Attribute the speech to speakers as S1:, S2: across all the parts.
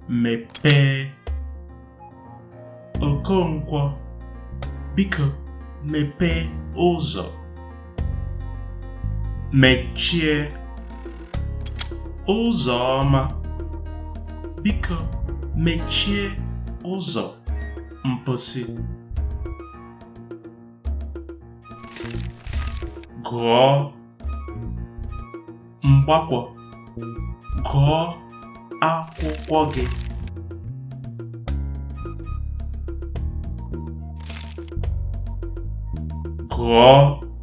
S1: mepee Okonkwo biko mepee ụzọ mechie Ụzọma biko mechie ụzọ mposi gụọ Mgbakwọ gụọ akwụkwọ gị gụọ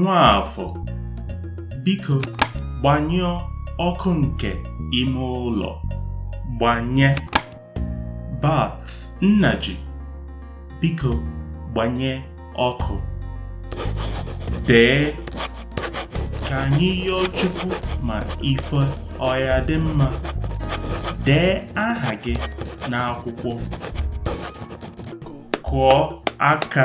S1: Nwaafọ, biko gbanyụọ ọkụ nke ime ụlọ. Gbanye. Barth Nnaji, biko gbanye ọkụ. Dee. Ka anyị yọọ Chukwu ma ife ọ ya-adị mma. Dee aha gị n'akwụkwọ. Kụọ aka.